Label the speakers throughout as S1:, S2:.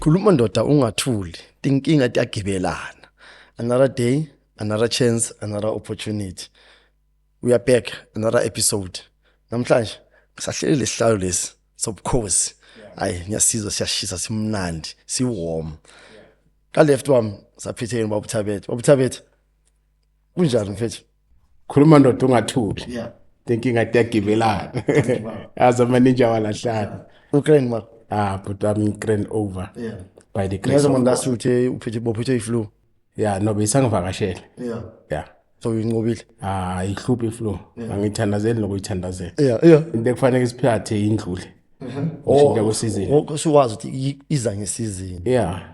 S1: khuluma ndoda ungathuli tinkinga tiyagibelana another day another chance another opportunity we are back another episode namhlanje sahlele lesihlalo lesi sobukhosi hayi ngiyasizwa siyashisa simnandi siwarm ka left wami saphetheni babuthabethe babuthabethe kunjani mfethu khuluma ndoda
S2: ungathuli yeah inkinga tiyagibelana azi amaninja walahlana ukraine ma
S1: ah but i'm ukraine
S2: over yeah by the
S1: grace of God
S2: uthe uphethe bophethwe
S1: iflu yeah no
S2: besangivakashele yeah
S1: yeah so
S2: uyinqobile
S1: ah ihluphi iflu
S2: angithandazeli nokuyithandazela yeah yeah into
S1: ekufanele isiphathe
S2: indlule ushintsha kwesizini usuwazi ukuthi
S1: iza ngesizini yeah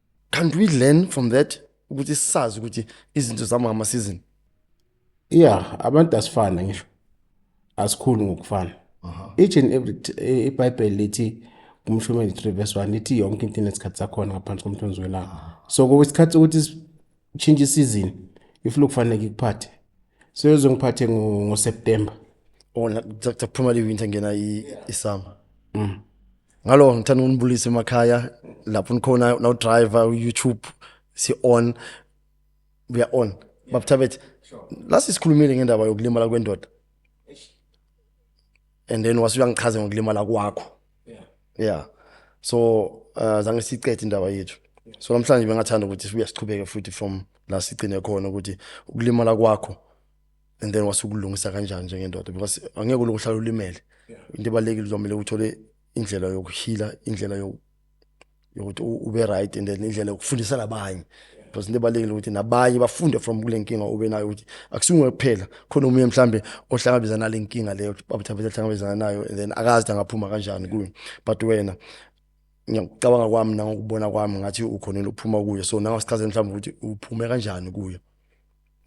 S1: can't we learn from that ukuthi sisazi ukuthi izinto zamama season yeah
S2: abantu asifana ngisho asikhulu ngokufana each and every eh, ibhayibheli lithi kumshumeli 3 verse 1 lithi yonke into inesikhathi sakhona ngaphansi komthunzi welanga so kwesikhathi ukuthi sitshintshe isizini if lokufanele ikuphathe so yozongiphathe ngoseptemba ona
S1: oh, kuphuma le winter ngena isummer mm. ngalo ngithanda ukunibulisa emakhaya lapho nikhona now driver youtube si on we are on babuthabethe last isikhulumile ngendaba yokulimala kwendoda and then wase uyangichaza ngokulimala kwakho yeah so uh, zange siqede indaba yethu so namhlanje bengathanda ukuthi sibuye siqhubeke futhi from la sigcine khona ukuthi ukulimala kwakho and then wasukulungisa kanjani njengendoda because angeke ulokhu uhlala ulimele into ebalekile uzomele uthole indlela yokuhila indlela yokuthi ube right and then indlela yokufundisa labanye because into ebalekile ukuthi nabanye bafunde from kule nkinga ube nayo ukuthi akusunge kuphela khona omunye mhlambe ohlangabezana nale nkinga leyo babuthabethe ahlangabezana nayo and then akazi angaphuma kanjani kuyo but wena ngiyacabanga kwami nangokubona kwami ngathi ukhonile uphuma kuyo so nangasikhathi mhlawumbe ukuthi uphume kanjani kuyo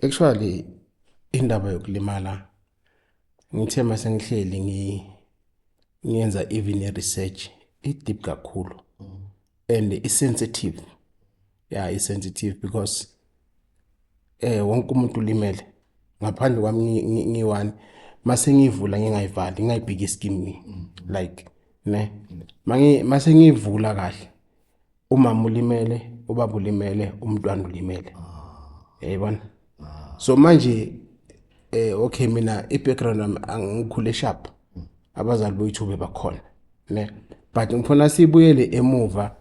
S1: actually
S2: indaba yokulimala ngithe uma sengihleli ngiyenza even i-research i-deep kakhulu and i-sensitive ya yeah, i-sensitive because eh wonke umuntu ulimele ngaphandle kwami ngiyi-one mase ngiyivula ngingayivali ngingayibheki iskim like ne mase ngiyivula kahle umama ulimele ubaba ulimele umntwana ulimele yayibona so manje eh okay mina i-background yami angikhule sharp abazali boyithuba bakhona ne but ngifuna sibuyele emuva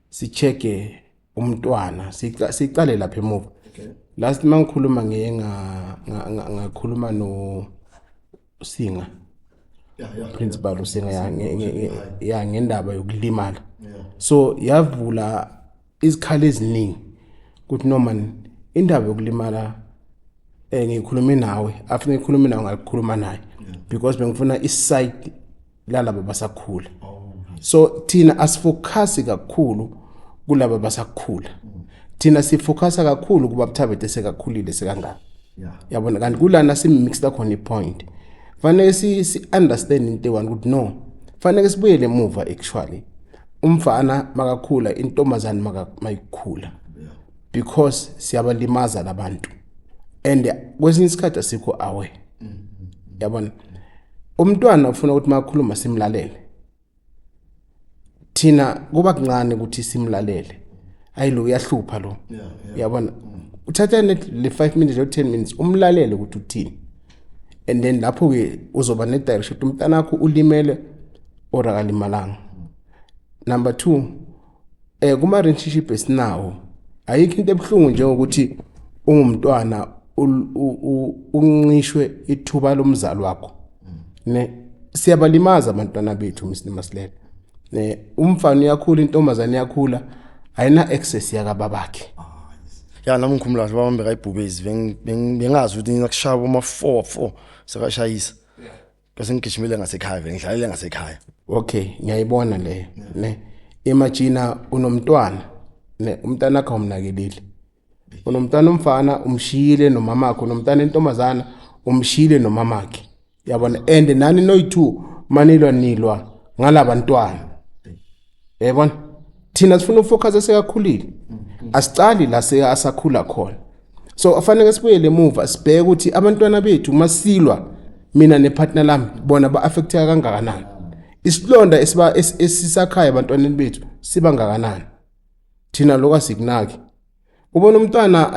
S2: sicheke umntwana siqale lapha emuva last mangikhuluma ngiye ngakhuluma no usinga
S1: principal usinga
S2: ya ngendaba yokulimala so yavula izikhala eziningi ukuthi noma indaba yokulimala eh ngikhulume nawe after ngikhulume nawe ngakukhuluma naye because bengifuna i side lalabo basakhula so thina asifocus kakhulu kulabo basakhula thina sifocus kakhulu kuba buthabete sekakhulile sekangaka yabona kanti kulana simixta khona ipoint fanele si, si understand into one ukuthi no fanele sibuyele emuva actually umfana makakhula intombazane mayikhula because siyabalimaza labantu and kwesinye isikhathi asikho awe yabona umntwana ufuna ukuthi makhuluma simlalele thina kuba kuncane ukuthi simlalele ayi lo uyahlupha lo yabona uthatha le 5 minutes or 10 minutes umlalele ukuthi uthini and then lapho ke uzoba ne direction umntana wakho ulimele or akalimalanga number 2 eh kuma relationship esinawo ayikho into ebuhlungu njengokuthi ungumntwana unqishwe ithuba lomzali wakho ne siyabalimaza abantwana bethu msini masilela ne umfana uyakhula intombazane iyakhula ayina access yaka babakhe ya nami
S1: ngikhumula kahle baba bekayibhubezi bengazi ukuthi ngingakushaya boma 4 4 sekashayisa bese ngigijimile ngasekhaya vele ngidlalele ngasekhaya okay ngiyayibona
S2: leyo ne imagina unomntwana ne umntana akho umnakelile unomntana umfana umshiyile nomama wakhe unomntana intombazana umshiyile nomama wakhe yabona and nani noyi-two manilwa nilwa ngalabantwana yayibona thina sifuna ufocus esekakhulile asicali la seyasakhula khona so afanele sibuyele emuva sibheke ukuthi abantwana bethu masilwa mina nepartner lami bona ba-affecteka kangakanani isilonda esiba esisakhaya abantwaneni bethu siba ngakanani thina lokho asikunaki ubona umntwana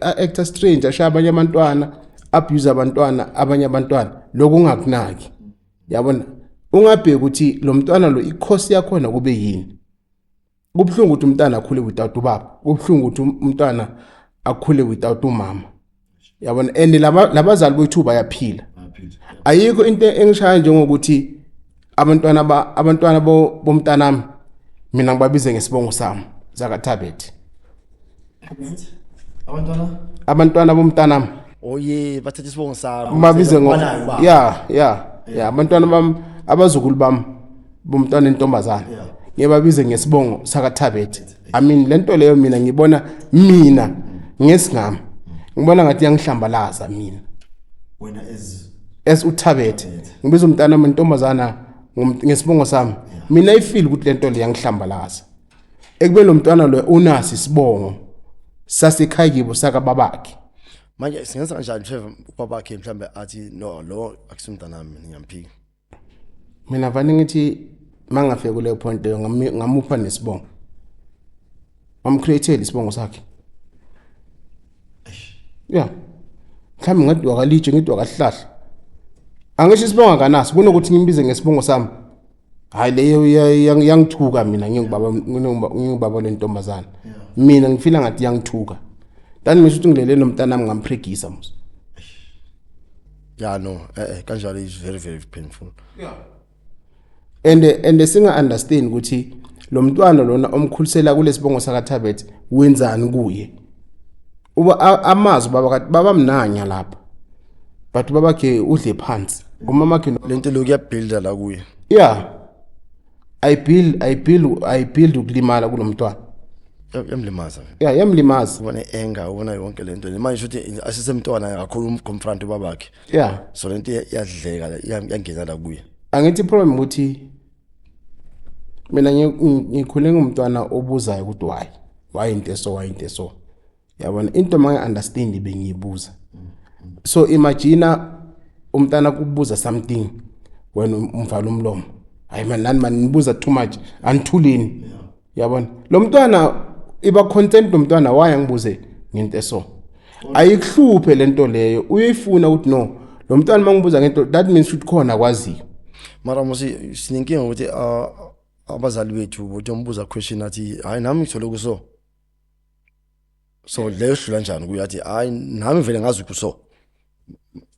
S2: a-actor strange ashaya abanye abantwana abuse abantwana abanye abantwana lokho ungakunaki yabona ungabheki ukuthi lo mntwana lo ikhosi yakhona kube yini kubuhlungu ukuthi umntana akhule without ubaba kubuhlungu ukuthi um-, umntwana akhule without umama yabona and labazali bethu bayaphila ayikho into engishaya njengokuthi abantwana ba abantwana bomntanami mina ngibabize ngesibongo sami zakathabet abantwana abantwana bomntanami oye bathatha
S1: isibongo sami umabize ngo Banayo
S2: ba. ya ya ya abantwana bam abazukulu bam bomntwana entombazana Yeah. ngiyebabize ngesibongo sakathabet i mean lento leyo mina ngibona mina ngesingami ngibona ngathi yangihlambalaza mina wena
S1: as
S2: as uthabet ngibiza umntana wentombazana ngom- ngesibongo sami mina ifeel ukuthi lento le yangihlambalaza ekube lo mntwana lo unasi isibongo sasekhaya kibo sakababakhe manje singenza
S1: kanjani Trevor ubabakhe mhlambe athi no lo akusumntanami ngiyamphika
S2: mina vane ngithi mangafika kuleyo point leyo ngami- ngamupha nesibongo ngamcreatele isibongo sakhe ya mhlawumbe ngathi wakalitshe ngithi wakahlahla angisho isibongo akanaso kunokuthi ngimbize ngesibongo sami hayi leyo yangithuka mina ngingubaba ngingubaba lentombazana mina ngifila ngathi yangithuka tani ngisho ukuthi ngilele nomntana wami ngamphregisa mos ya
S1: no eh, eh kanjalo is very very painful yeah and
S2: and singa understand ukuthi lo mntwana lona omkhulisela kulesibongo sakathabet wenzani kuye uba amazi baba baba mnanya lapha but babakhe udle phansi umamakhe no- lento lokhu yabuilda
S1: la kuye yeah
S2: i build i build i build ukulimala kulomntwana Ya- yamlimaza
S1: vele yeah yamlimaza
S2: ubona i-anger ubona
S1: yonke le nto le manje shuthi asisemntwana kakhulu umconfront ubabakhe yeah so le nto iya- iyadleka la, iya- iyangena la kuye angithi problem ukuthi
S2: mina ngi- ngi- ngikhule ngumntwana obuzayo ukuthi why why into eso why into eso yabona into mangi-understand bengiyibuza so imagina umntana kubuza something wena um-, umvala umlomo hayi mani nani mani nibuza too much anithulini yabona lo mntwana iba content lo mntwana waye angibuze ngento eso ayikuhluphe le nto leyo uyifuna ukuthi no lo mntwana uma ngibuza ngento that means ukuthi khona kwaziyo mara musi
S1: sinenkinga ukuthi ah, abazali bethu bothi ombuza question athi hhayi nami ngithole kuso so leyo hlula njani kuyo athi hayi nami vele ngazi ukuthi so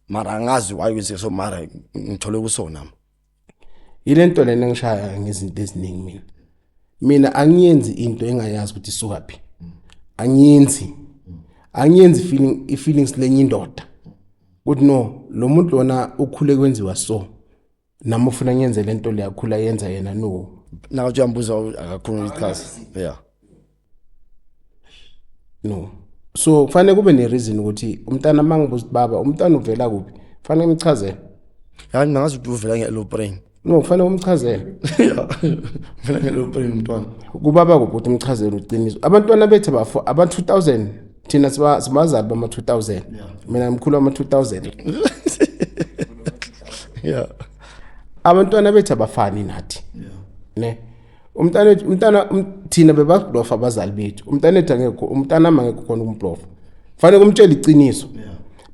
S1: mara angazi why kwenze so mara ngithole kuso nami yilento
S2: lena engishaya ngezinto eziningi mina mina angiyenzi into engayazi ukuthi isuka phi angiyenzi angiyenzi feeling i feelings lenye indoda ukuthi no lo muntu lona ukhule kwenziwa so nami ufuna ngenze le nto liyakhula yenza yena no naka uthi uyambuza
S1: akakhuluma ichaza yeah
S2: no so kufanele kube nereason ukuthi umntana uma ngibuza ukuthi baba umntana uvela kuphi kufanele ngimchazele yani ngazi
S1: ukuthi uvela nge-low brain no kufanele umchazele uvela nge-low brain umntwana kubaba kuphi ukuthi
S2: umchazele uqiniso abantwana bethu abafo aba-2000 thina siba sibazali bama 2000 mina ngimkhulu wama 2000 yeah abantwana bethu abafani nathi ne umntana wethu umntana um, thina bebablofa abazali bethu umntana wethu angekho umntana ama ngekho khona ukumblofa fanele kumtshela iqiniso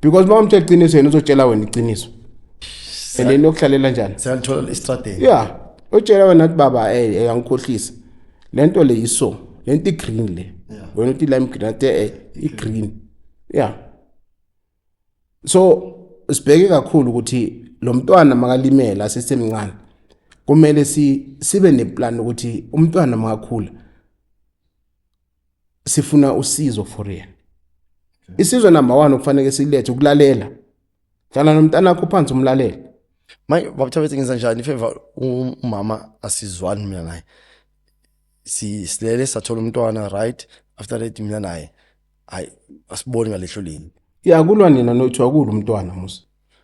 S2: because uma umtshela iqiniso yena uzotshela wena iqiniso and then yokuhlalela njani siyalithola istrategy
S1: yeah utshela wena
S2: ukuthi baba eh, eh angikhohlisi le nto le iso le nto i-green le wena uthi lime green ate eh, i-green ya so sibheke kakhulu ukuthi lo mntwana makalimela sisemncane kumele si sibe neplan ukuthi umntwana makakhula sifuna usizo for yena isizwe number 1 okufanele silethe ukulalela Hlala nomntanakho phansi umlalele. Manje
S1: babuthabethe ngenza njani if ever umama asizwani mina naye. Si silele sathola umntwana right after that mina naye. Hayi asiboni ngalehlo lini. Ya kulwa nina
S2: nothi wakulu umntwana musa.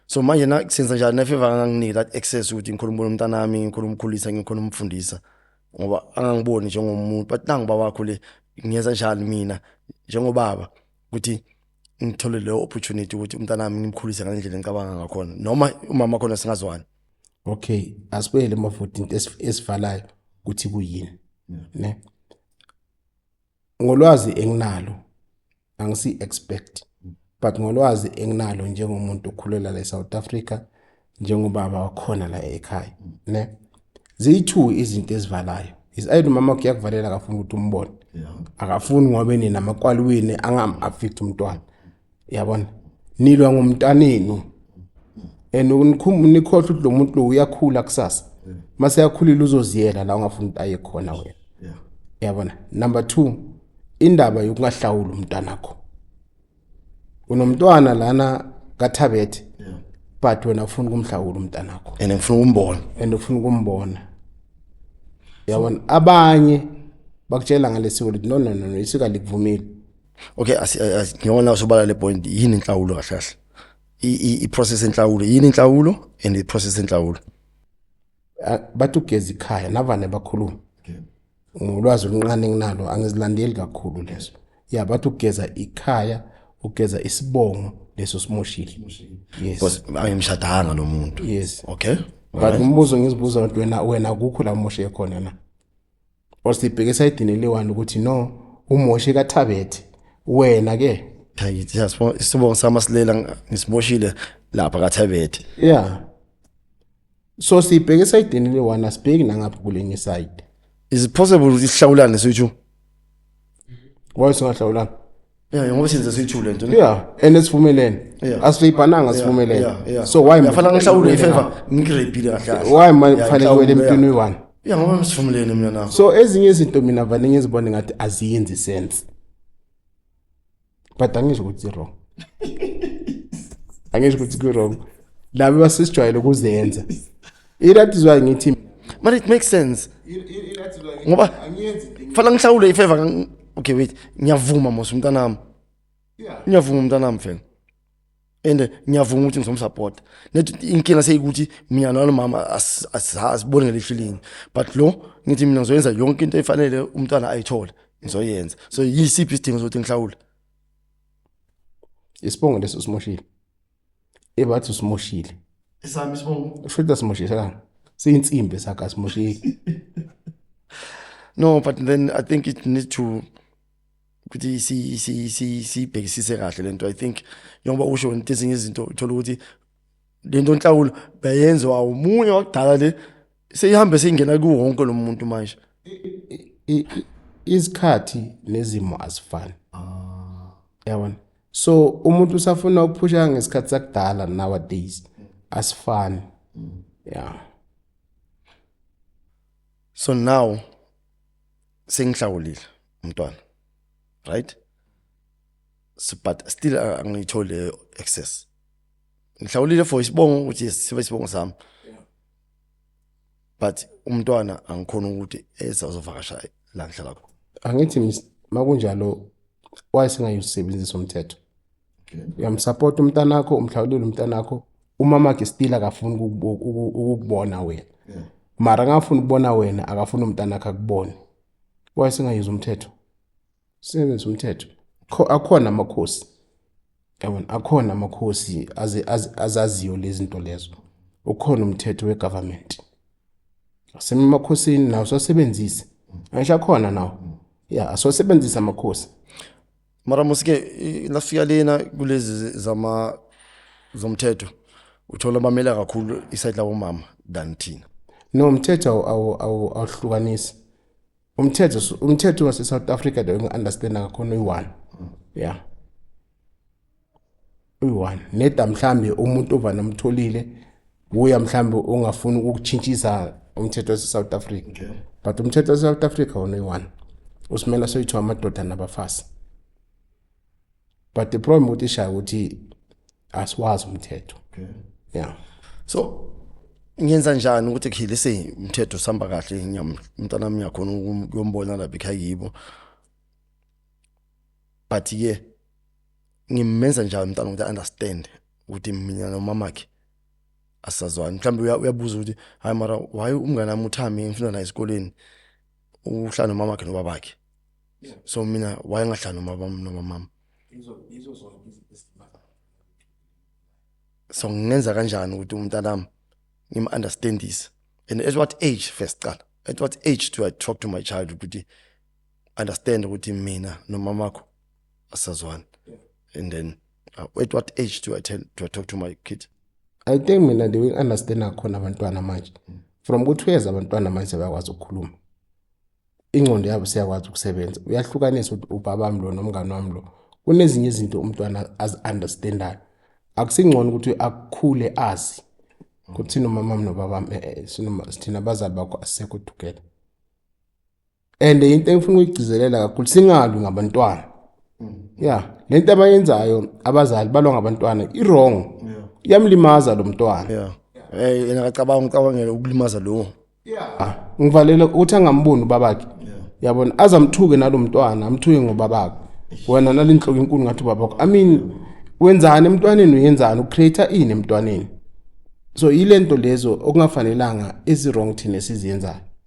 S2: So manje na
S1: senza njani na if ever anganginiki that access ukuthi ngikhuluma ubona umntana wami ngikhona umkhulisa ngikhona umfundisa ngoba angangiboni njengomuntu but nangu baba wakho le ngiyenza njani mina njengobaba ukuthi ngithole leyo opportunity ukuthi umntanami ngimkhulise ngalendlela engicabanga ngakhona noma umama khona singazwani okay
S2: asibuyele emavoti into esivalayo ukuthi kuyini ne ngolwazi enginalo angisi expect but ngolwazi enginalo njengomuntu okhulela la eSouth Africa njengobaba wakhona la ekhaya ne ziyi-two izinto ezivalayo is either umama wakhe uyakuvalela akafuni ukuthi umbone akafuni ngoba enina amakwaliwini angam-affect umntwana yabona nilwa ngomntanenu and nikhohlwa ukuthi lo muntu lo uyakhula kusasa uma seyakhulile uzoziyela la ungafuni ukuthi aye khona wena yabona number two indaba yokungahlawuli umntanakho unomntwana lana kathabethe yeah. but wena ufuna ukumhlawula umntanakho and ngifuna ukumbona
S1: and ufuna ukumbona
S2: yabona abanye bakutshela ngalesiko lithi no no no, no isika likuvumile okay
S1: ngiyona usobala le point yini inhlawulo kahle kahle i-process enhlawulo yini inhlawulo and i-process enhlawulo
S2: Ah, bathi ugeza ikhaya navane bakhuluma ngolwazi oluncane enginalo angizilandeli kakhulu lezo ya bathi ugeza ikhaya ugeza isibongo leso simoshile yes Because ayimshadanga
S1: lo muntu. yes Okay.
S2: but
S1: umbuzo
S2: ngizibuza ukuthi wena wena kukho la umoshe khona na or sibheke esayidini eliwani ukuthi no umoshe kathabethe wena ke hayi siyasibona
S1: isibongo sama silela ngisimoshile lapha kathabethe yeah
S2: so sibheke esayidini eliwani asibheki nangapha kulenye side is it possible
S1: ukuthi sihlawulane sithu
S2: why singahlawulanga yeah ngoba
S1: senze sithule nje yeah and esivumelene
S2: yeah. asibhananga sivumelene yeah, yeah. so why ngifana ngihlawule ifavor
S1: ngigrebile kahle why manje kufanele wele
S2: emntwini wani yeah ngoba ngisivumelene
S1: mina nakho so ezinye izinto mina
S2: vane ngizibone ngathi aziyenzi sense but angisho ukuthi wrong angisho ukuthi ku-wrong laba basisijwayele ukuzenza that is why ngithi but it makes
S1: sense ngoba fana ngihlawule ifeva okay wait ngiyavuma mos umntanami ngiyavuma umntanami fela and ngiyavuma ukuthi ngizomsupporta net inkinga seyikuthi mina nalo mama asiboni ngelihlo linye but lo ngithi mina ngizoyenza yonke into efanele umntwana ayithole ngizoyenza so yisiphi isidingo sokuthi ngihlawule
S2: isibongo leso simoshile ebathi usimoshile isami isibongo
S1: usho ukuthi asimoshile sakani
S2: siyinsimbi sakhe asimoshile no
S1: but then i think it needs to ukuthi siyibhekisise kahle lento i think njengoba usho into ezinye izinto uthola ukuthi lento nhlawulo bayenziwa umunye wakudala le seyihambe seyingena kuwonke lo muntu manje
S2: isikhathi nezimo azifani ah. yabona so umuntu usafuna ukuphusha ngesikhathi sakudala nowadays asifani mm. yeah
S1: so now sengihlawulile umntwana right so but still uh, angiyithole access ngihlawulile for isibongo ukuthi sibe isibongo sami but umntwana angikhona ukuthi ezazovakasha la ngihlala khona angithi
S2: makunjalo why singayusebenzisa umthetho uyamsupport umntana wakho umhlawulile umntana wakho umama wakhe still akafuni ukukubona wena mara ngafuni ukubona wena akafuni umntana wakhe akubone why singayenza umthetho singenza umthetho akhona amakhosi yabona akhona amakhosi azaziyo lezi zinto lezo ukhona umthetho wegovernment asemamakhosini nawo sosebenzise angisho akhona nawo ya asosebenzise amakhosi mara
S1: musike nasifika lena kulezi zama zomthetho uthola bamela kakhulu isayidi labomama than thina no umthetho
S2: awuhlukanisi umthetho umthetho wase-south africa the onge-understanda ngakhona uyi-one ya yeah. uyi-one neda mhlambe umuntu ovane omtholile wuya mhlambe ongafuni ukutshintshisa umthetho wase-south africa okay. but umthetho wase-south africa wona uyi-one usimela soyithiwa amadoda nabafazi but the problem ukuthi shaya ukuthi asiwazi umthetho okay. yeah so
S1: ngenza njani ukuthi khile se umthetho sihamba kahle umntana wami uyakhona ukuyombona lapha ekhaya yibo but-ke yeah. ngimenza njani umntana ukuthi understand ukuthi mina nomamakhe asazwani mhlawumbe uyabuza ukuthi hayi mara why umngane wami uthami ngifunda naye esikoleni uhlala nomamakhe nobabakhe so mina why ngahlala nomama nomama so ngingenza kanjani ukuthi umntanami ngim-understandise and at what age first qala at what age do i talk to my child ukuthi understand ukuthi mina nomamakho asazwana and then uh, at what age do i tell do i talk to my kid i think mina
S2: they will understand akhona abantwana manje from ukuthi uyeza abantwana manje sebakwazi ukukhuluma ingqondo yabo siyakwazi ukusebenza uyahlukanisa ukuthi ubaba wami lo nomngane wami lo kunezinye izinto umntwana azi-understandayo akusingcono ukuthi akukhule azi ukuthi nomamam nobabam eh, eh, sithina abazali bakho asekho together and into engifuna ukuyigcizelela kakhulu singalwi ngabantwana ya le nto abayenzayo abazali balwa ngabantwana i-wrong iyamlimaza lo mntwana yeah eh yena akacabanga
S1: ucabangela ukulimaza lo yeah
S2: ngivalela ukuthi angamboni ubabakhe yabona azamthuke nalomntwana amthuke ngobabakhe wena nalinhloko enkulu ngathi ubabakho i mean wenzani emntwaneni uyenzani ucreate ini emntwaneni so yilento lezo okungafanelanga ezi wrong thina siziyenzayo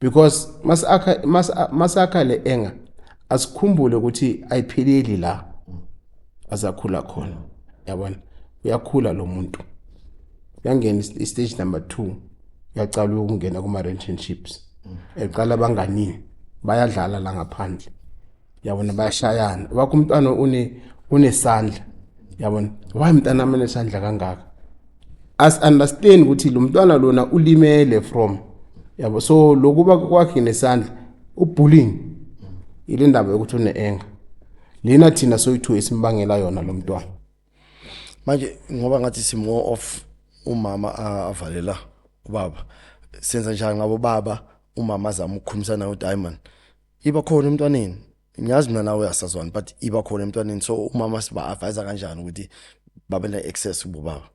S2: because masakha masakha le enga asikhumbule ukuthi ayipheleli la azakhula khona yabona uyakhula lo muntu uyangena istage number 2 uyacala ukungena kuma relationships eqala abanganini bayadlala la ngaphandle yabona bayashayana wakho umntwana une unesandla yabona why mntana mina nesandla kangaka as understand ukuthi lo mntwana lona ulimele from yabo so lokuba kwakhe nesandla ubullying ile ndaba yokuthi uneenga lena thina soyithu esimbangela yona lo mntwana manje
S1: ngoba ngathi si more of umama avalela ubaba senza njani ngabo baba umama azama ukukhulumisana no Diamond iba khona emntwaneni ngiyazi mina nawe asazwani but iba khona emntwaneni so umama siba advise kanjani ukuthi babe ne access kubo baba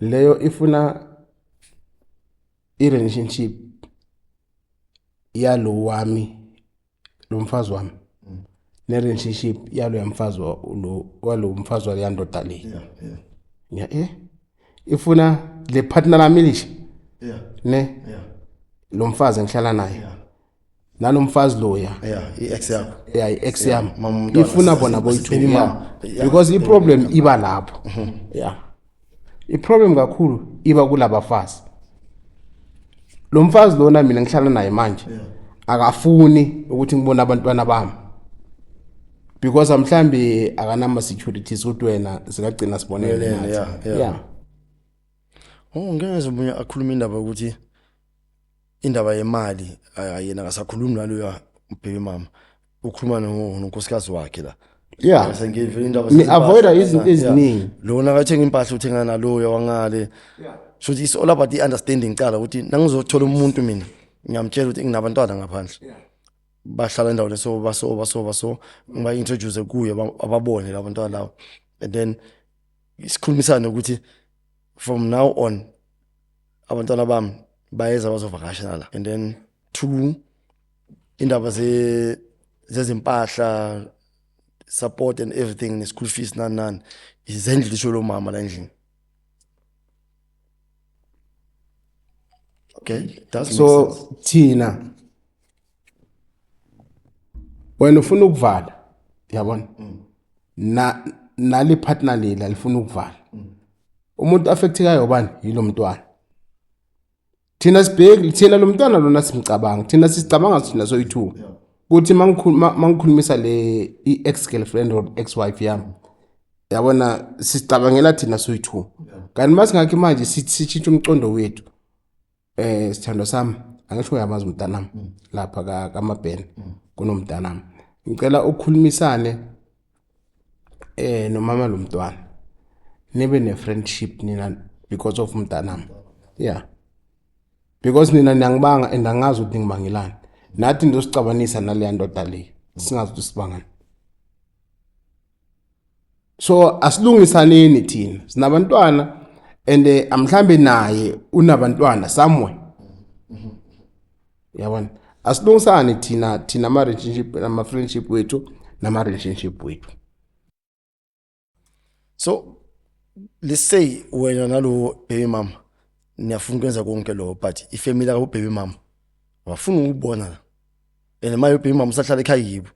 S2: leyo ifuna i relationship yalo wami lo mfazi wami ne relationship yalo yamfazi lo walo mfazi wale yandoda le yeah yeah yeah eh ifuna le partner lami lisha yeah ne yeah lo mfazi engihlala naye yeah nalomfazi loya yeah i-ex yakho
S1: yeah i-ex yami
S2: ifuna bona boyithu because i-problem iba lapho mhm. yeah i-problem kakhulu iba kulabafazi lo mfazi lona mina ngihlala naye manje akafuni ukuthi ngibone abantwana bami because mhlambi akanama securities ukuthi wena sikagcina sibonele Yeah, nathi yeah, yeah. yeah Oh ngeke
S1: ngeze umunye akhuluma indaba ukuthi indaba yemali ay- ayena akasakhulumi naloyo ubheke mama ukhuluma no- nonkosikazi wakhe la yeah Sengivele
S2: indaba Ni
S1: avoid zezimpahla. izinto Yeah.
S2: eziningi lona akathenga impahla
S1: uthenga naloyo wangale so it's all about the understanding cala ukuthi nangizothola umuntu mina ngiyamtshela ukuthi nginabantwana ngaphandle bahlala endaweni so baso baso baso ngiba-introduce kuye ba- ababone labo bantwana labo and then sikhulumisane ukuthi from now on abantwana bami bayeza bazovakasha nala and then two indaba ze zezimpahla support and everything ne-school fees nani nani izendlu lisho lomama la endlini Okay, does make so sense. thina
S2: wena ufuna ukuvala yabona na nali partner leli alifuna ukuvala umuntu affectekayo ubani yilo mntwana thina sibheki thina lo mntwana lona simcabanga thina sisicabanga thina soyi-two kuthi mangikhulumisa le i-ex girlfriend or ex wife yami yabona sicabangela thina soyi-two kanti uma singakhi manje sitshintshe umcondo wethu um sithandwa sami angisho uyamazi umntanami mm. lapha kamabhena mm. kunomntanami ngicela ukukhulumisane eh nomama lo mntwana nibe ne friendship nina because of mntanami yeah because nina niyangibanga and angazi ukuthi ngibangelani nathi ndosicabanisa naleya ndoda le singazi ukuthi sibangani so asilungisaneni thina sinabantwana and eh, mhlambe naye unabantwana somewhere yabona asilungisane thina thina ama relationship ama friendship wethu nama relationship wethu
S1: so let's say wena nalo baby mama niyafuna ukwenza konke lokho but ifamily ka baby mama wafuna ukubona la and maye baby mama usahlala ekhaya yibo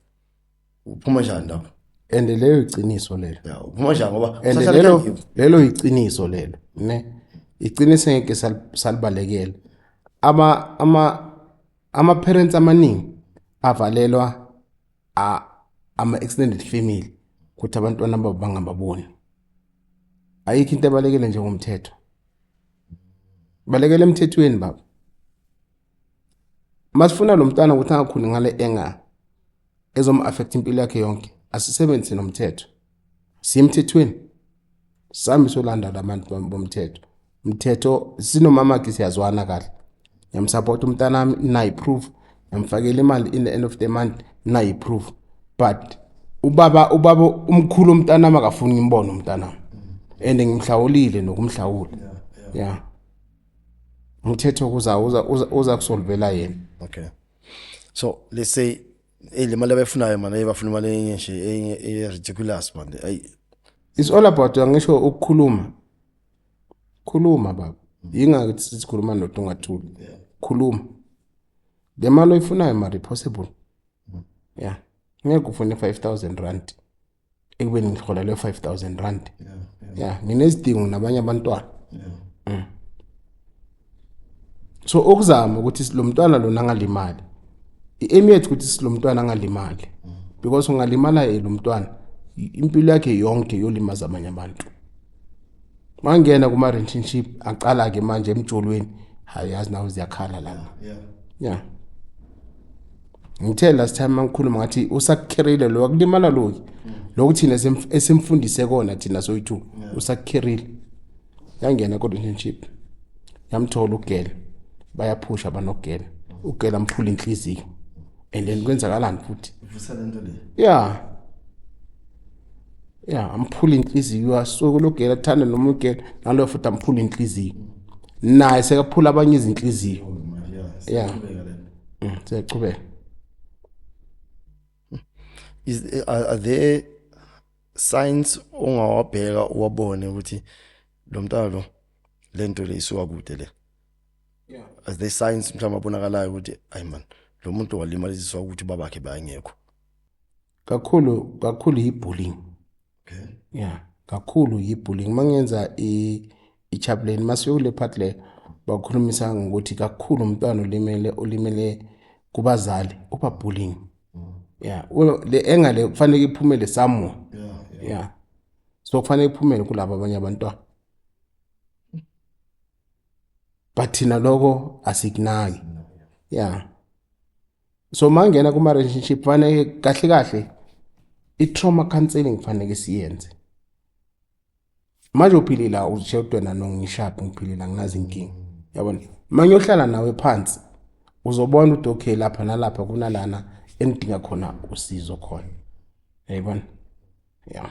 S1: uphuma njani lapho and leyo
S2: iqiniso lelo ya uphuma njani ngoba
S1: and usahlala
S2: lelo endlini.
S1: lelo iqiniso
S2: lelo ne iqiniso ngeke sal- salibalekele ama ama ama parents amaningi avalelwa a- ama extended family ukuthi abantwana babo bangababoni ayikho into ebalekele njengomthetho balekele emthethweni baba masifuna lo mntwana ukuthi angakhuli ngale enga ezom-affect impilo yakhe yonke asisebenzise nomthetho simthethweni sihambe solandana abantu bomthetho mthetho sinomamakhe siyazwana kahle ngiyamsapota umntana wami nayi-proof ngiyamfakela imali in the end of the month nayi-proof but ubaba ubaba umkhulu umntana wami akafuni ngimbone umntana wami and ngimhlawulile nokumhlawula ya yeah. yeah. umthetho kuza uza uza kusolvela yena okay
S1: so let's say eh, le mali abayifunayo manje bafuna imali enye nje enye e ridiculous manje ayi it's all
S2: about angisho ukukhuluma khuluma baba yingakho sikhuluma nomuntu ongathuli khuluma le mali oyifunayo mari possible mm. yeah ngeke ufune 5000 rand ekubeni ngiholelwe 5000 rand yeah, yeah. yeah nginezidingo nabanye abantwana yeah. mm. so okuzama ukuthi lo mntwana lona angalimali i-aim yethu ukuthi silo mntwana angalimali mm. because ungalimala yena umntwana impilo yakhe yonke yolimaza abanye abantu mangena kuma relationship aqala ke manje emjolweni hayi yazi nawe ziyakhala lana yeah yeah ngithe last time mangikhuluma ngathi usakukhirile lo akulimala lo mm. lokhu thina esimfundise kona thina soyithu usakukhirile yangena kodwa internship yamthola ugela bayaphusha banogela ugela mphula inhliziyo and then kwenzakalani futhi vusa lento
S1: le yeah
S2: ya amphula inhliziyo asuke logela athanda noma ugela naloyo futhi amphula inhliziyo naye sekaphula abanye izinhliziyo ya mm, siyachubeka
S1: is eh, are there signs ongawabheka uwabone ukuthi lo mntana lo lento le isuka kude le yeah
S2: are there signs
S1: mhlawumbe abonakalayo ukuthi ayi man lo muntu walimaliswa ukuthi babakhe bayengekho kakhulu
S2: kakhulu yi-bullying okay.
S1: yeah
S2: kakhulu yi-bullying uma ngenza i-chaplain uma siyokule part le bakhulumisa ngokuthi kakhulu umntwana olimele olimele kubazali uba bullying mm. yeah le engale kufanele iphumele somewhere yeah, yeah. yeah. so kufanele iphumele kulabo abanye abantwana but thina lokho asikunaki ya so mangena kuma relationship fanele kahle kahle i trauma counseling fanele siyenze manje uphile la uzisheltwe na nongishapi ngiphile la nginazi inkinga yabona manje uhlala nawe phansi uzobona ukuthi okay lapha nalapha kunalana engidinga khona usizo khona yayibona yeah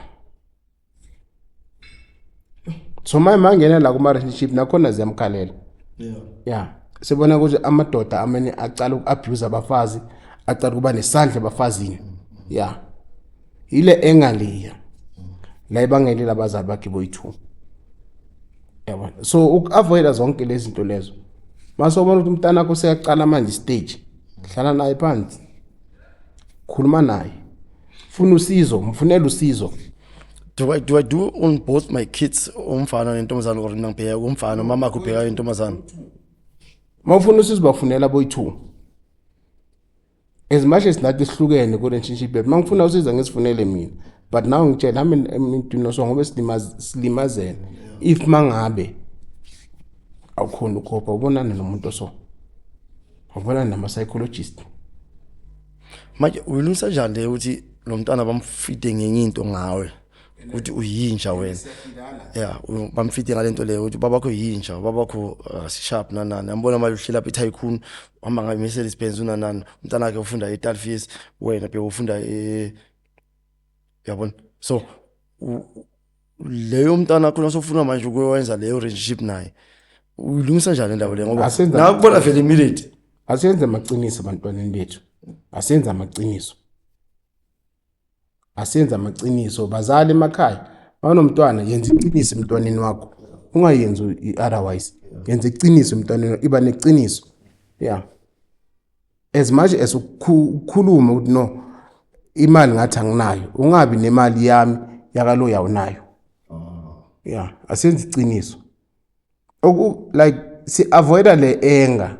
S2: so manje mangena la kuma relationship nakhona ziyamkhalela yeah yeah sibona ukuthi amadoda amene aqala ukuabuse abafazi aqala kuba nesandla abafazini yeah ile engaliya la ibangele labazali bakhe boyithu yabona so ukuavoida zonke lezi zinto lezo mase ubona ukuthi umntana wakho seyaqala manje stage hlala naye phansi khuluma naye funa usizo mfunela usizo do I, do
S1: I do on both my kids umfana nentombazane or mina ngibheka umfana umama akhe ubheka intombazane uma
S2: ufuna usizo bafunela boyi-two as much as nathi sihlukene kule relationship yethu uma ngifuna usiza ngisifunele mina but now ngitshela hami imintwinoso ngobe silimazene if mangabe awukhona ukhopha ubonane nomuntu so wabonana nama-psychologist
S1: manje uyilungisa njani le ukuthi lo mntwana bamfite ngenye into ngawe ukuthi uyinja wena ya bamfite ngale nto leyo ukuthi babakho yinja babakho uh, sharp nanani ambona manje uhlela phi tycoon uhamba ngayo Mercedes Benz unanani umntana wakhe ufunda eTalfies wena bhe ufunda e yabona so leyo mntana wakho nosofuna manje ukwenza leyo relationship naye uyilungisa njani indaba le ngoba Asenza- nakubona vele immediate asenze amaqiniso
S2: abantwaneni bethu asenze amaqiniso asenze amaqiniso bazali emakhaya banomntwana yenza iqiniso emntwaneni wakho ungayenzi i-otherwise yenza iqiniso emntwaneni wakho. iba neqiniso ya as much as ukukhuluma ukuthi no imali ngathi anginayo ungabi nemali yami yakalo yawunayo ah. yeah asenzi iqiniso oku like si avoida le anger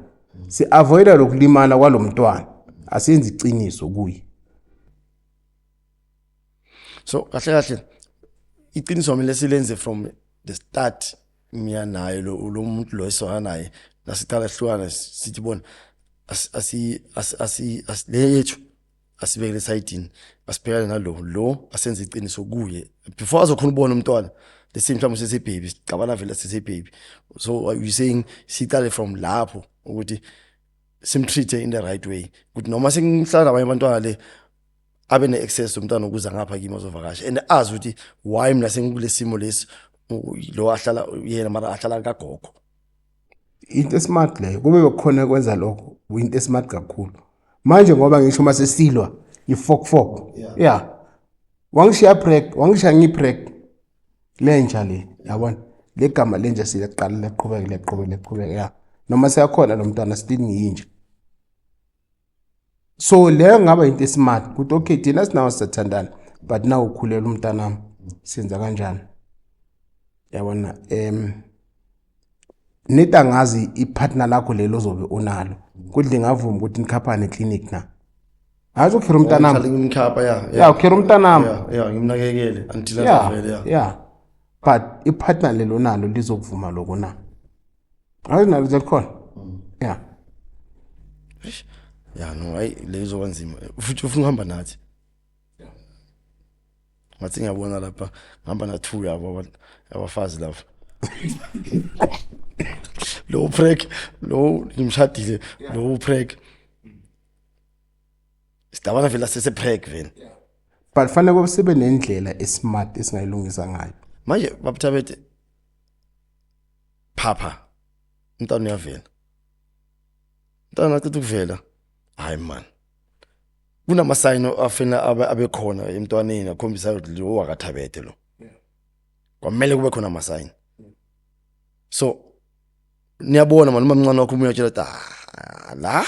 S2: si avoida lokulimala kwalomntwana asenzi iqiniso kuye
S1: so kahle kahle iqiniso kumele silenze from the start mina naye lo lo muntu lo esona naye nasiqala sihlukana sithi bona asi asi asi le yethu asibekele sayidini asibhekane nalo lo asenze iqiniso kuye before azokhona ubona umntwana let's say mhlawumbe sese baby sicabana vele sese baby so are you saying siqale from lapho ukuthi simtreat in the right way ukuthi noma sengimhlala abanye abantwana le abe ne access umntana ukuza ngapha kimi ozovakasha and azi ukuthi why mina sengikulesimo lesi lo ahlala yena mara ahlala kagogo
S2: into esmart leyo kube bekhona kwenza lokho into esmart kakhulu manje ngoba ngisho uma sesilwa ifokfok ya wangishiya prek wangishiya ngiprek lenja le yabona le gama lenja siyaqala leqhubeke leqhubeke leqhubeke ya noma seyakhona lo mntwana still ngiyinja so leyo ngaba into esimart ukuthi okay thina sinawo sithandana but nawu ukhulela umntanami senza kanjani yabona um neti angazi ipartner lakho lelo ozobe unalo kuthi lingavuma ukuthi nikhaphane eclinic na hazi ukhira umntanamiya
S1: ukhira umntanami ya
S2: but ipartner lelo nalo lizokuvuma loko na hayi nalo likhona ya
S1: ya no hayi lezo kanzima futhi ufuna uhamba nathi ngathi ngiyabona lapha ngihamba na two yabo abafazi lapha lo prek lo ngimshadile lo prek sidabana vele sese prek vele but fanele
S2: kube sibe nendlela esmart esingayilungisa ngayo manje babuthabethe
S1: phapha umntana uyavela umntana acitha ukuvela hayi man kunamasayini afena abekhona emntwaneni akhombisa ukuthi lo wakathabethe lo kwamele kube khona amasayini so niyabona manje umamncane wakho umuntu uyatshela ah, la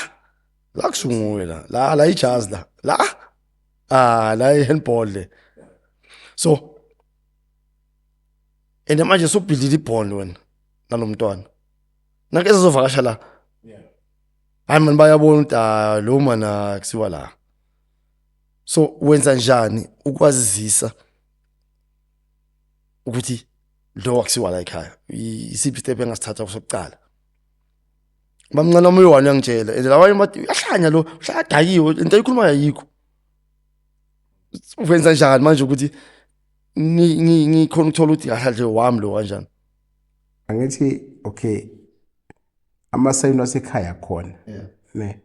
S1: la kusunguwe la la la ijazi la la ah la ihandball le so and manje subhidlile ibond wena nalomntwana nake ezovakasha la hayi mani bayabona ukuthi ah, lo mana kusiwa la so wenza njani ukwazisa ukuthi lo wakusiwa la ekhaya I- isiphi step engasithatha kusokuqala bamncane omunye wani uyangitshela and lawanye bathi uyahlanya lo uhladakiwe into ayikhulumayo ayikho wenza njani manje ukuthi ngikhona ukuthola ukuthi kahle wami lo kanjani angithi
S2: okay amasayini wasekhaya khona ne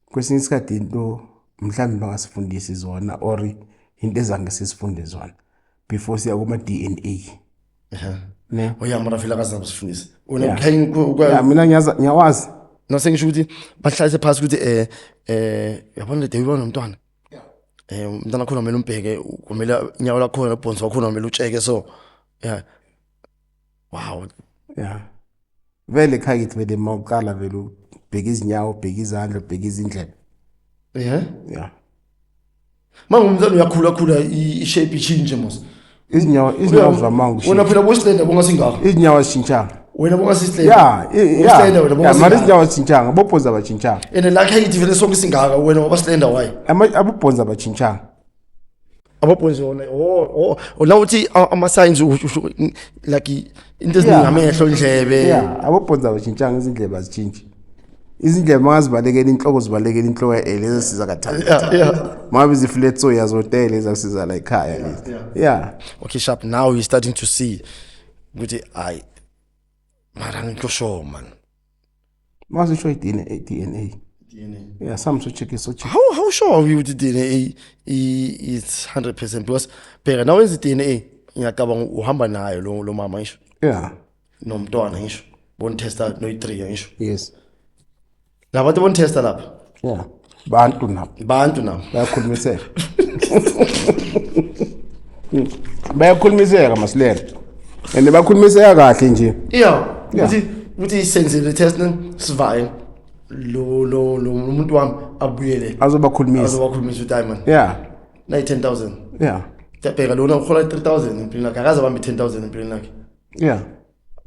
S2: kwesinye isikhathi into mhlawumbe bangasifundisi zona or into ezange sisifunde zona before siya kuma DNA
S1: ne oyamara fela kazabe sifundisa unamkhaya
S2: mina ngiyazi ngiyawazi nase ngisho ukuthi
S1: bahlalise phasi ukuthi eh eh yabona le day ubona umntwana eh umntana wakhona kumele umbheke kumele inyawo lakhona nobhonsi wakhona kumele utsheke so yeah wow yeah
S2: vele khakithi vele uma uqala vele ubheke izinyawo ubheke izandla ubheke izindlela yeah yeah
S1: mangumntana uyakhula khula ishape ichinje mos izinyawo izinyawo
S2: zamanga ushintsha wena phela boyisilenda bonga
S1: singaka izinyawo azishintshanga
S2: wena bonga sisilenda ya
S1: boyisilenda wena
S2: bonga mara izinyawo azishintshanga bobhonza abashintshanga and lakhe yithi vele
S1: sonke singaka wena wabasilenda why abobhonza
S2: abashintshanga
S1: abobhonza wona oh oh la uthi ama signs like into eziningi
S2: amehlo
S1: indlebe
S2: yeah abobhonza
S1: bashintshanga
S2: izindlebe
S1: azitshintshi
S2: izindlebe mangazibalekela inhloko zibalekela inhloko yaele ezasiza kathathu mabe zifile tsoya zotele ezasiza la ekhaya lezi yeah okay sharp now
S1: you starting to see ukuthi hayi mara ngikho sure man
S2: Masisho i-DNA DNA. DNA. Yeah, some so check so check. How how sure are you with
S1: the DNA is 100% because bheka nawe wenza i-DNA ngiyacabanga uhamba nayo lo lo mama ngisho. Yeah.
S2: Nomntwana ngisho.
S1: Bon tester no i3 ngisho. Yes. Labantu bon tester lapha. Yeah.
S2: bantu nabo bantu nabo bayakhulumiseka bayakhulumiseka masilela and bakhulumiseka kahle nje yeah ukuthi
S1: ukuthi senzile test sivayo lo lo lo umuntu wami abuyele azobakhulumisa azobakhulumisa
S2: udiamond
S1: yeah nayi 10000 yeah
S2: tabheka lona uhola
S1: 3000 empilweni yakhe akaze bambe 10000 empilweni yakhe yeah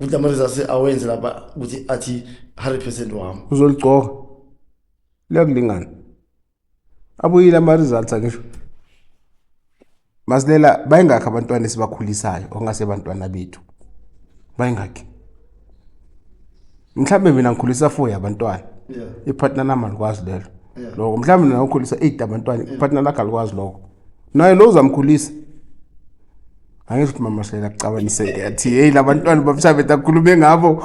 S2: ukuthi ama
S1: results awenze lapha ukuthi athi 100% wami uzoligcoka
S2: Liyakulingana. Abuyile ama results angisho. Masilela bayingakho abantwana esibakhulisayo ongase bantwana bethu. Bayingakho. Mhlambe mina ngikhulisa 4 yabantwana. Yeah. Ipartner nami alikwazi lelo. Yeah. Lokho mhlambe mina ngikhulisa 8 abantwana, ipartner lakhe alikwazi lokho. Naye lo uzamkhulisa. angisho ukuthi mama shela kucabaniseke athi hey labantwana babishabe takhulume ngabo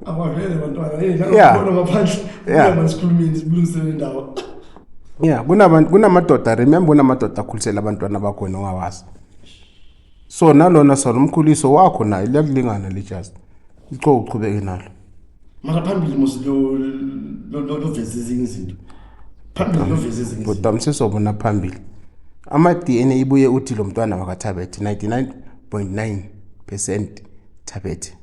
S1: abavele bantwana hey la ngibona ngaphandle yeah masikhulumeni sibulungisele indawo yeah
S2: kunabantu kunamadoda remember kunamadoda akhulisela abantwana bakho nongawazi so nalona sona umkhuliso wakho naye liyakulingana lijazi icoko uqhubeke nalo mara phambili
S1: mos loveza ezinye izinto phambili loveza ezinye bhuti amsizobona
S2: phambili ama-d n a ibuye uthi lo mntwana wakathabethe 99 9 percent thabethe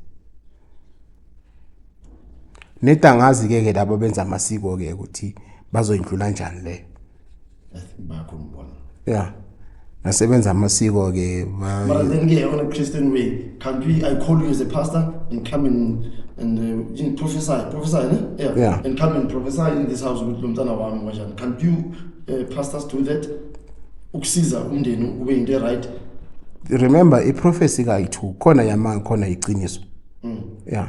S2: nedangazi-ke ke labo benza amasiko-ke ukuthi bazoyindlula njani leyo
S1: bakho ngibona yeah
S2: nasebenza amasiko ke but then ke on
S1: a christian way can't we i call you as a pastor and come and and uh, in prophesy prophesy ne yeah. yeah
S2: and come and prophesy
S1: in this house ukuthi lomntana wami kanjani can't you uh, pastors do that ukusiza umndeni ube into e right remember
S2: i prophecy ka ithu khona yamanga khona iqiniso mm. yeah